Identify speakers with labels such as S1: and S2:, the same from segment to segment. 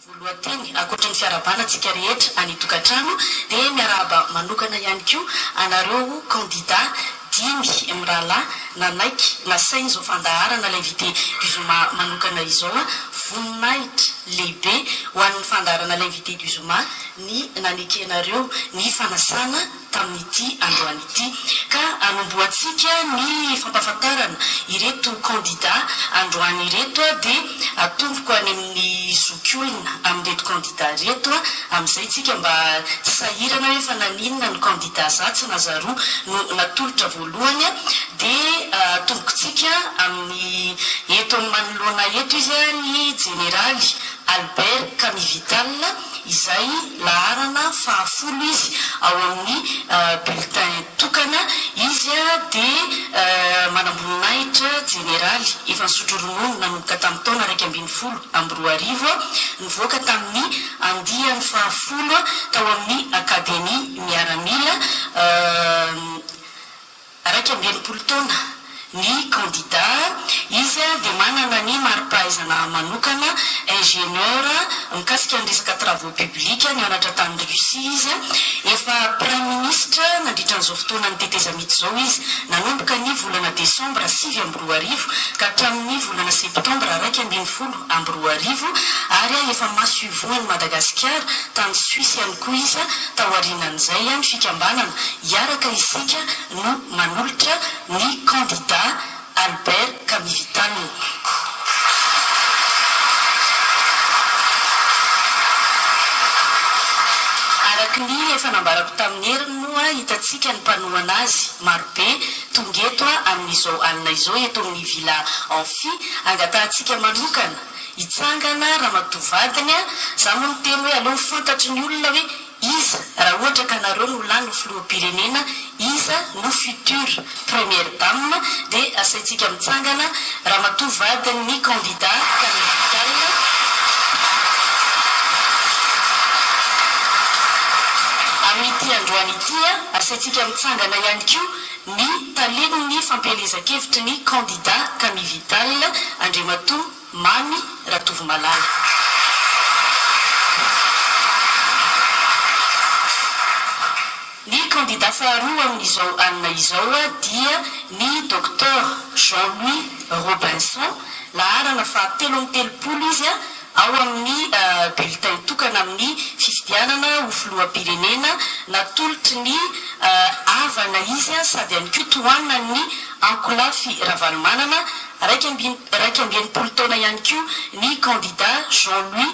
S1: Voalohan-teny, ankoatra ny fiarahabana antsika rehetra any tokantrano dia miarahaba manokana ihany koa anareo kandida dimy mirahalahy nanaiky nasaina izao fandaharana l'invité du zoma manokana izao. Voninahitra lehibe ho an'ny fandaharana l'invité du zoma. ny nanekenareo ny fanasana tamin'ity androany ity. Ka hanombohantsika ny fampahafantarana ireto kandida androany ireto dia atomboko any amin'ny zokiolona amin'ireto kandida ireto amin'izay tsika mba tsy sahirana hoe fa naninona ny kandida za tsy nazaro no natolotra voalohany dia atomboko tsika amin'ny eto manoloana eto izy ny jeneraly Albert Kamivital izay laharana fahafolo izy ao amin'ny bulletin tokana, izy dia manamboninahitra jeneraly efa nisotro ronono nanomboka tamin'ny taona iraika ambin'ny folo amby roa arivo, nivoaka tamin'ny andiany fahafolo tao amin'ny Akademia Miaramila. Iraika amby enimpolo taona ny kandida, izy dia manana ny mari-pahaizana manokana, ingénieur, mikasika ny resaka travaux publics, nianatra tany Russie izy, efa praiminisitra nandritra an'izao fotoanan'ny tetezamita izao izy, nanomboka ny volana desambra sivy amby roa arivo ka hatramin'ny volana septambra iraika ambin'ny folo. amby roa arivo ary efa masoivohon'i Madagasikara tany Suisse ihany koa izy taorianan'izay ny fikambanana Hiaraka Isika no manolotra ny kandida Albert Kamivital. Araka ny efa nambarako tamin'ny heriny moa hitantsika ny mpanohana azy marobe Tonga eto amin'izao alina izao eto amin'ny Villa Amphi angatahantsika manokana hitsangana ramatoa vadiny a! Za moa miteny hoe aleo ho fantatry ny olona hoe iza raha ohatra ka nareo no lany ho filoham-pirenena iza no future première dame dia asaintsika mitsangana Ramatoa vadin'ny kandida Camille Vital, Amin'ity androany ity, asaintsika mitsangana ihany koa ny talen'ny fampielezan-kevitry ny kandida Camille Vital, Andriamatoa Mamy Ratovomalala. Ny kandida faharoa amin'izao alina izao dia ny Docteur Jean Louis Robinson, laharana fahatelo amby telopolo izy ao amin'ny bulletin tokana amin'ny fifidianana ho filoham-pirenena, natolotry ny havana izy sady ihany koa tohanan'ny ankolafy Ravalomanana, iraika amby iraika amby enimpolo taona ihany koa ny kandida Jean Louis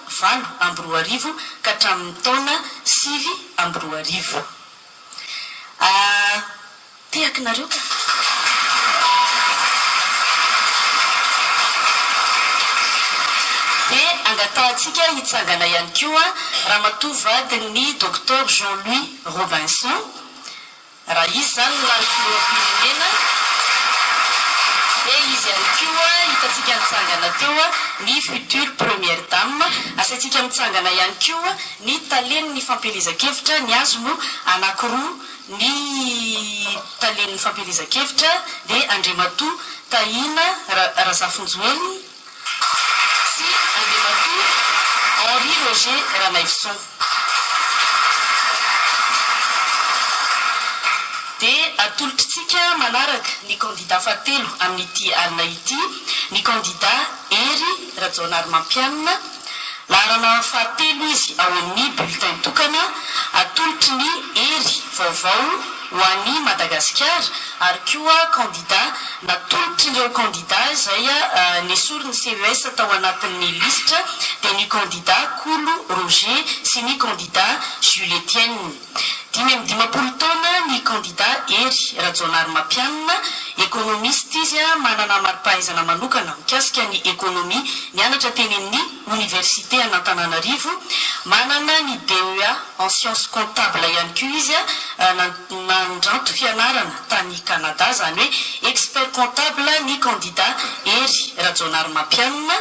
S1: valo amby roa arivo ka hatramin'ny taona sivy amby roa arivo. Atehakinareo ka. Dia angatahantsika hitsangana ihany koa Ramatoa vadin'ny Docteur Jean Louis Robinson, Raha izy izany no lany filoham-pirenena dia izy ihany koa hitantsika nitsangana teo ny future première dame, asaintsika mitsangana ihany koa ny talen'ny fampielezan-kevitra, ny azy no anakiroa, ny talen'ny fampielezan-kevitra dia Andriamatoa Tahina Razafinjoelina, sy Andriamatoa Henri Roger Ranaivoson. Dia atolotritsika manaraka ny kandidà fahatelo amin'ity alina ity, ny kandidà Hery Rajaonarimampianina. Laharana fahatelo izy ao amin'ny bulletin tokana atolotry ny hery vaovao ho an'i Madagasikara ary koa kandida natolotry ireo kandida izay nesorin'ny CES tao anatin'ny lisitra dia ny kandida Kolo Roger sy ny kandida Jules Etienne. Dimy amby dimampolo taona ny kandida Hery Rajaonarimampianina, ekonomista izy, manana mari-pahaizana manokana mikasika ny ekonomia, nianatra teny amin'ny oniversite an'Antananarivo, manana ny DEA en sciences comptables ihany koa izy, nandranto fianarana tany Canada, izany hoe expert comptable ny kandida Hery Rajaonarimampianina,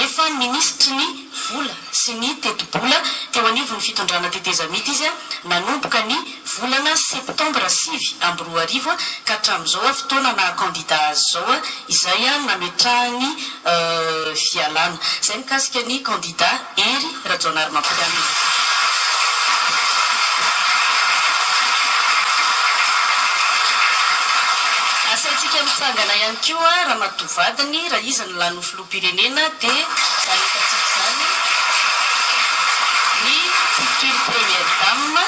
S1: efa minisitry ny. vola sy ny tetibola teo anivon'ny fitondrana tetezamita izy nanomboka ny volana septambra sivy amby roa arivo ka hatramin'izao fotoana naha kandida azy izao izay nametrahany fialana. Izay mikasika ny kandida Hery Rajaonarimampianina. Asaintsika mitsangana ihany koa ramatoa vadiny raha izy no lany ho filoha. firenena dia nahitantsika izany ny future première dame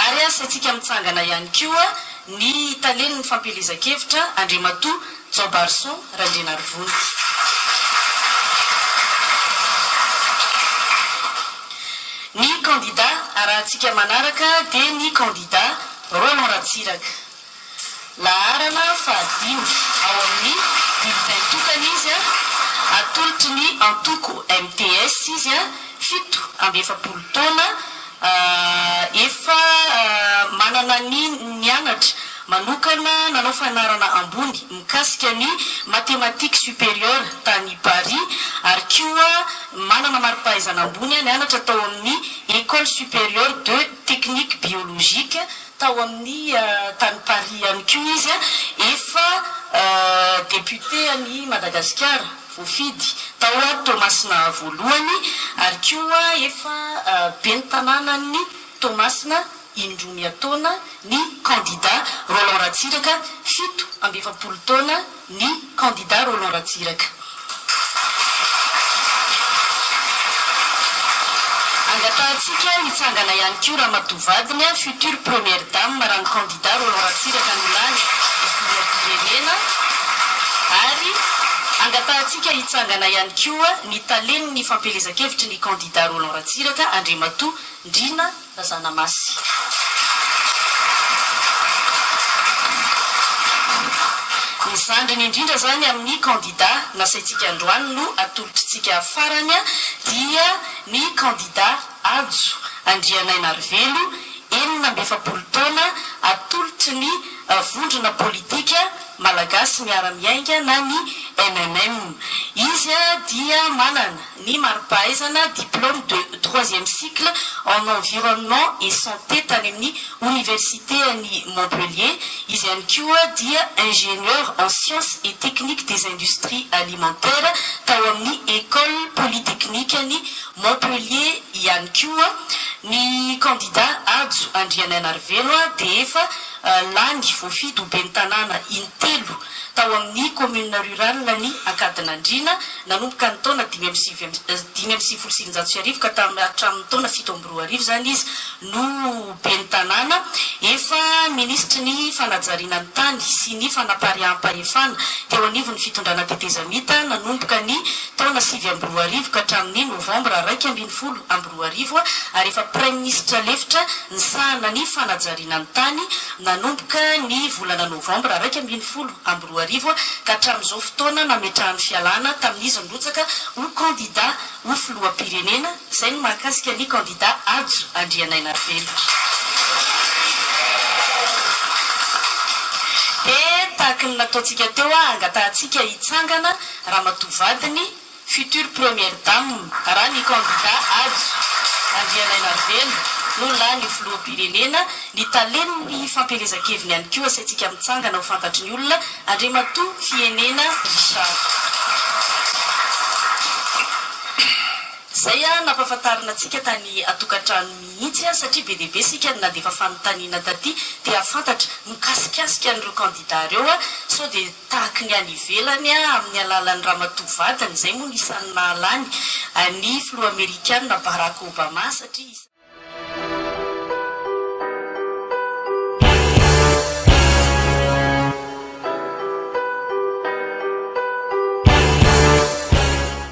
S1: ary asaintsika mitsangana ihany koa ny talen'ny fampielezan-kevitra Andriamatoa Jaobarison Randrianarivony. Ny kandida arahantsika manaraka dia ny kandida Roland Ratsiraka. Laharana fahadimy ao amin'ny Bulletin tokana izy, atolotry ny antoko MTS izy, fito amby efapolo taona, efa manana ny nianatra manokana nanao fanarana ambony mikasika ny Mathématiques supérieures tany Paris ary koa manana mari-pahaizana ambony nianatra tao amin'ny École supérieure de technique biologique Tao amin'ny tany Paris ihany koa izy efa député an'i Madagasikara voafidy tao Toamasina voalohany ary koa efa ben'ny tanànan'i Toamasina indroa miha taona ny candidat Roland Ratsiraka fito amby efapolo taona ny kandida Roland Ratsiraka. Angatahantsika hitsangana ihany koa ramatoa vadiny future première dame raha ny kandida Roland Ratsiraka no lany ho filoham-pirenena ary angatahantsika hitsangana ihany koa ny talen'ny fampielezan-kevitry ny kandida Roland Ratsiraka Andriamatoa Ndriana Ra Zanamasy. Ny zandriny indrindra izany amin'ny kandida nasaintsika androany no atolotritsika farany dia ny kandida Hajo Andrianainarivelo enina amby efapolo taona atolotry ny vondrona politika Malagasy miara-miainga na ny MMM. Izy dia manana. ny mari-pahaizana, diplôme de troisième cycle en environnement et santé tany amin'ny Oniversite an'i Montpellier. Izy ihany koa dia ingénieur en sciences et techniques des industries alimentaires tao amin'ny Ecole polytechnique an'i Montpellier ihany koa. Ny kandida Hajo Andrianainarivelo dia efa lany voafidy ho ben'ny tanàna intelo tao amin'ny commune rurale an'i Ankadinandriana. Nanomboka ny taona dimy amby sivy dimy amby sivifolo sy eninjato sy arivo ka tam hatramin'ny taona fito amby roa arivo izany izy no Ben'ny tanàna. Efa Minisitry ny fanajariana ny tany sy ny fanapariaham-pahefana teo anivon'ny fitondrana tetezamita nanomboka ny taona sivy amby roa arivo ka hatramin'ny novambra iraika ambin'ny folo amby roa arivo ary efa Praiminisitra lefitra nisahana ny fanajariana ny tany nanomboka ny volana novambra iraika ambin'ny folo amby roa arivo ka hatramin'izao fotoana nametrahany fialana tamin'izy nirotsaka ho kandida ho filoham-pirenena, izay no mahakasika ny kandida Hajo Andrianainarivelo. Dia tahaka ny nataontsika teo, hangatahantsika hitsangana ramatoa vadiny, Future Première Dame raha ny kandida Ady Andrianainarivelo no lany filoham-pirenena, ny talen'ny fampielezan-keviny ihany koa asaintsika mitsangana ho fantatry ny olona, Andriamatoa Fienena Richard. Izay nampahafantarina antsika tany an-tokantrano mihitsy satria be dia be isika no nandefa fanontaniana taty te hahafantatra mikasikasika an'ireo kandida ireo sao dia tahaky ny any ivelany amin'ny alalan'ny ramatoa vadiny, izay moa no isan'ny nahalany an'i filoha amerikana Barack Obama satria isan'ny.